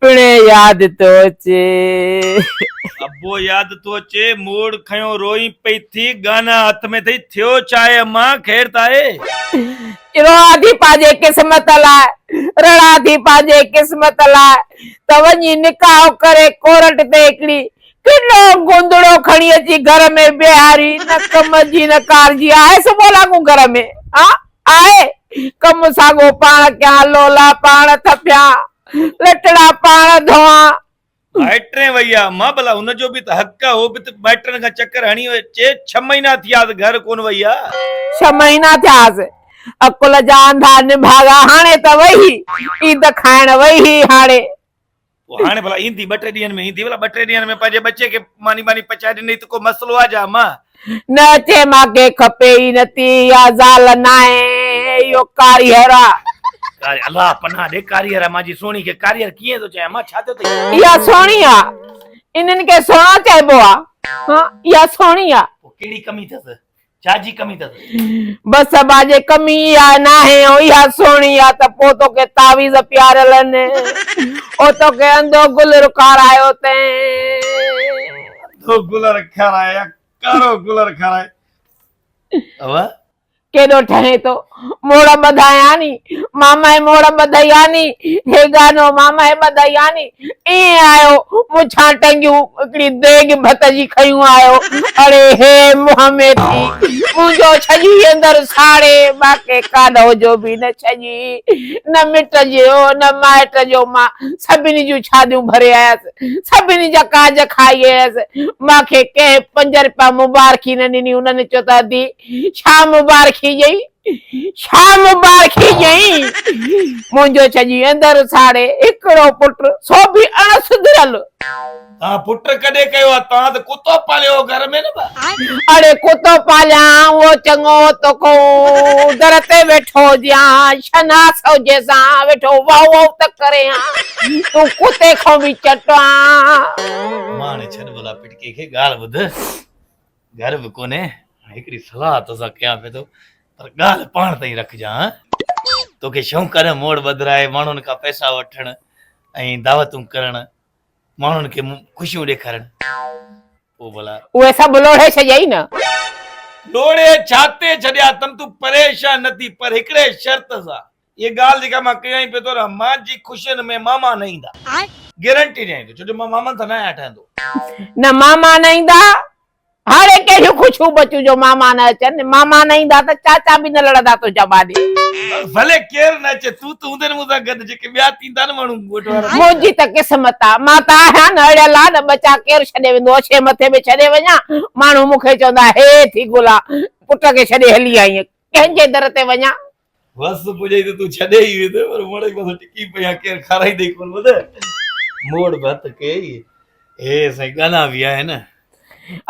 پڻهين ياد ٿو اچي. ابو ياد ٿو اچي. موڙ کنيو روئين پئي ٿي. ڳانا هٿ ۾ اٿئي. ٿيو ڇا اي اما؟ خير ته آهي؟ روئان ٿي پنهنجي قسمت لاء. رڙان ٿي پنهنجي قسمت لاء. ته وڃي نڪاح ڪري ڪورٽ تي هڪڙي ڪنو گندڙو کڻي اچي گهر ۾ بيهاري. نه ڪم جي نه ڪار جي آهيس ڀلا ڪو گهر ۾. ها؟ آهي، ڪم ساڳو پاڻ ڪيان، لولا پاڻ ٿڦيان، لٽڙا پاڻ ڌوئان. مائٽرين وئي آ. مان ڀلا ان جو به ته حق آ، اهو به ته مائٽرن کان چڪر هڻي وئي. چي ڇهه مهينا ٿياس گهر ڪونه وئي آ. ڇهه مهينا ٿياس، عقل جا انڌا نڀاڳا هاڻي ته وئي هي، عيد کائڻ وئي هي هاڻي. پوء هاڻي ڀلا ايندي ٻه ٽي ڏينهن ۾ ايندي ڀلا ٻه ٽي ڏينهن ۾ پنهنجي ٻچي کي ماني ٻاني پچائي ڏني ته ڪو مسئلو آ جا مان. نه اچي مان کي کپي ئي نه ٿي اها زال ناهي اهو ڪاريهر آ. ڪاري الله پناهه ڏي ڪاريهر آ مانجي سهڻي کي ڪاريهر ڪيئن ٿو چئين مان ڇا ٿيو اٿئي. اها سهڻي آ انهن کي سهڻا چئبو آ ها اها سهڻي آ. پوء ڪهڙي ڪمي ٿس. ڇا جي ڪمي تس؟ بس ابا جي ڪمي اها ناهي او اها سهڻي آ ته پو توکي تعويذ پياريل ان او توکي انڌو گلر کارايو تين. انڌو گلر کارايو يا ڪارو گلر کارايو ابا. ڪيڏو ٺهين ٿو. موڙ ٻڌاياني، مامائي موڙ ٻڌياني، هي گانو مامائي ٻڌياني، ائين آيو، مڇان ٽنگيون، هڪڙي ديڳ ڀت جي کنيون آيو، اڙي هي منهن ۾ ٿي، منهنجو ڇڄي اندر ساڙي، باقي ڪانو جو به نه ڇڄي، نه مٽ جو، نه مائٽ جو، مان سڀني جون ڇاڌيون ڀري آيس، سڀني جا ڪاڄ کائي آيس، مان کي ڪنهن پنج رپيا مبارڪي نه ڏني، انهن چيو ته ادي! ڇا مبارڪي ڄئين ڇا مبارڪي ڄئين منهنجو ڇڄي اندر ساڙي هڪڙو پٽ سو به اڻ سڌريل. توهان پٽ ڪڏهن ڪيو آ توهان ته ڪتو پاليو هو گهر ۾ نه با. اڙي ڪتو پاليان اهو چڱو تو ڪون در تي ويٺو هجيان شناس هجي سان ويٺو واء واء ته ڪري ها تون ڪتي کون به چٽ آ. ماڻي ڇڏ ڀلا پٽڪي کي ڳالهه ٻڌ. گهر به ڪونهي، هڪڙي صلاح توسان ڪيان پيو ٿو، پر ڳالهه پاڻ تائين رکجان ها. توکي شونق آهي نه موڙ ٻڌرائي ماڻهن کان پئسا وٺڻ ۽ دعوتون ڪرڻ، ماڻهن کي خوشيون ڏيکارڻ. پوء ڀلا. اهي سڀ لوڙهي ڇڏيائين نه. لوڙهي ڇا تي ڇڏيا اٿم، تون پريشان نه ٿي، پر هڪڙي شرط سان. اها ڳالهه جيڪا مان ڪيائين پيو ٿو رهان مان جي خوشين ۾ ماما نه ايندا گيرنٽي ڏيائين ٿو ڇو جو مان مامن سان نه آهيان ٺهندو. نه ماما نه ايندا هاڙي ڪهڙيون خوشيون بچون جو ماما نه اچن ماما نه ايندا ته چاچا به نه لڙندا تنهنجا ٻانهي. ڀلي ڪير نه اچي تون ته هوندين مون سان گڏ جيڪي ٻيا ٿيندا نه ماڻهو ڳوٺ وارا. منهنجي ته قسمت آ مان ته آهيان نه اڙيل آ نه ٻچا ڪير ڇڏي ويندو اڇي مٿي ۾ ڇڏي وڃان ماڻهو مون کي چوندا هي ٿي گلا پٽ کي ڇڏي هلي آئين ڪنهن جي در تي وڃان. وس پڄائي ته تون ڇڏي ئي ويندين پر مڙئي بس ٽڪي پئي آ ڪير کارائيندي ڪون ٻڌ موڙ ڀت ڪيئي هي سائين ڳانا به آهن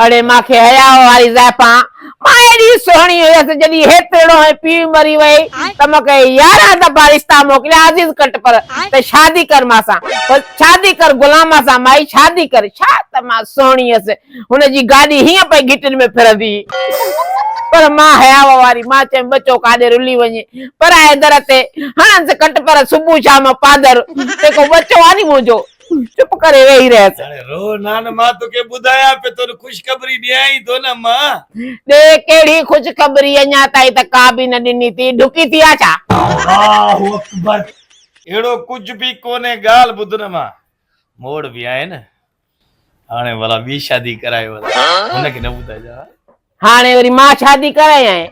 اڙي مان کي حياء واري زائفان مان ايڏي سهڻي هيس جڏي هيترڙو ۽ پيء مري وئي ته مان کي يارهن دفعا رشتا موڪليا عزيز ڪٽ پر ته شادي ڪر مان سان پر شادي ڪر غلام سان مائي شادي ڪر ڇا ته مان سهڻي هيس هن جي گاڏي هيئن پئي گهٽين ۾ ڦرندي هئي پر مان حياء واري مان چيم ٻه چوڪ آڏي رلي وڃ پرائي در تي هڻنس ڪٽ پر صبح شام پادر تي ڪو ٻچو آ ني منهنجو چپ ڪري ويهي رهيس. هاڻي رو نه نه مان توکي ٻڌايان پئي تون خوشخبري ڏيان ئي ٿو نه مان. ڏي ڪهڙي خوشخبري اڃا تائين ته ڪا به نه ڏني ٿي ڍڪي ٿي آ ڇا. الله اڪبر اهڙو ڪجهه به ڪونهي ڳالهه ٻڌ نه مان موڙ به آهي نه هاڻي ڀلا ٻي شادي ڪرائي ڀلا هن کي نه ٻڌائجان ها. هاڻي وري مان شادي ڪرايانء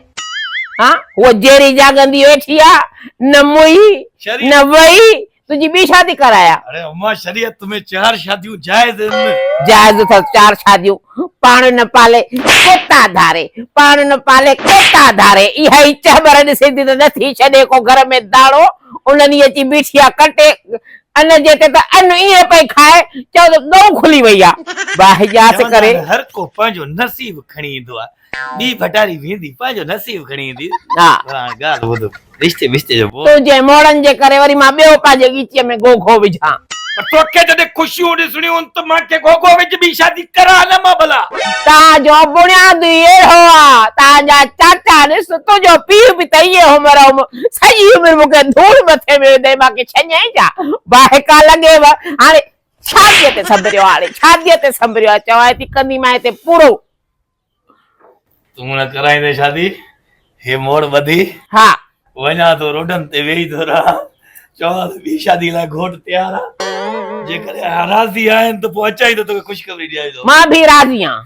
ها هوء جهري جهاڳندي ويٺي آ نه موئي نه وئي تنهنجي ٻي شادي ڪرايان. اڙي امان شريعت ۾ چار شاديون جائز آهن. جائز اٿس چار شاديون پاڻ نه پالي ڪتا ڌاري پاڻ نه پالي ڪتا ڌاري اها ئي چهٻر ڏسيندي ته نه ٿي ڇڏي ڪو گهر ۾ داڻو. انهن ئي اچي بيٺي آ ڪٽي ان جي تي ته ان ائين پئي کائي ڄڻ ته ڳئون کلي وئي آ. باهه ڄاس چوندا ڪري. آهن هر ڪو پنهنجو نصيب کڻي ايندو آ. ٻي ڀٽاري ويندي پنهنجو نصيب کڻي ايندي. ها. پر هاڻ ڳالهه ٻڌ رشتي بشتي جو بوڙ. تنهنجي موڙن جي ڪري وري مان ٻيو پنهنجي ڳيچيء ۾ گوگو وجهان. پر توکي جڏهن خوشيون ڏسڻيون هن ته مان ڪي گوگو وجهه ٻي شادي ڪران نه مان ڀلا. تان جو بڻياد ئي اهڙو آ. تان جا چاچا ڏس تنهنجو پيء به ته ائين هوم روم. سڄي عمر مون کي ڌوڙ مٿي ۾ وڌائي مان ڪي ڇڃائين ڇا؟ واهڪا لڳيو هاڻي شاديء تي سنڀريو هاڻي شاديء تي سنڀريو چوائين ٿي ڪنديمانء تي پورو. تون نه ڪرائيندين شادي هي موڙ ٻڌي. ها. وڃان ٿو روڊن تي ويهي ٿو رهان چوان ٿو ٻي شادي لاء گهوٽ تيار آ جيڪڏهن راضي آهين ته پوء اچان ئي ٿو توکي خوشخبري ڏياري ٿو. مان به راضي آهيان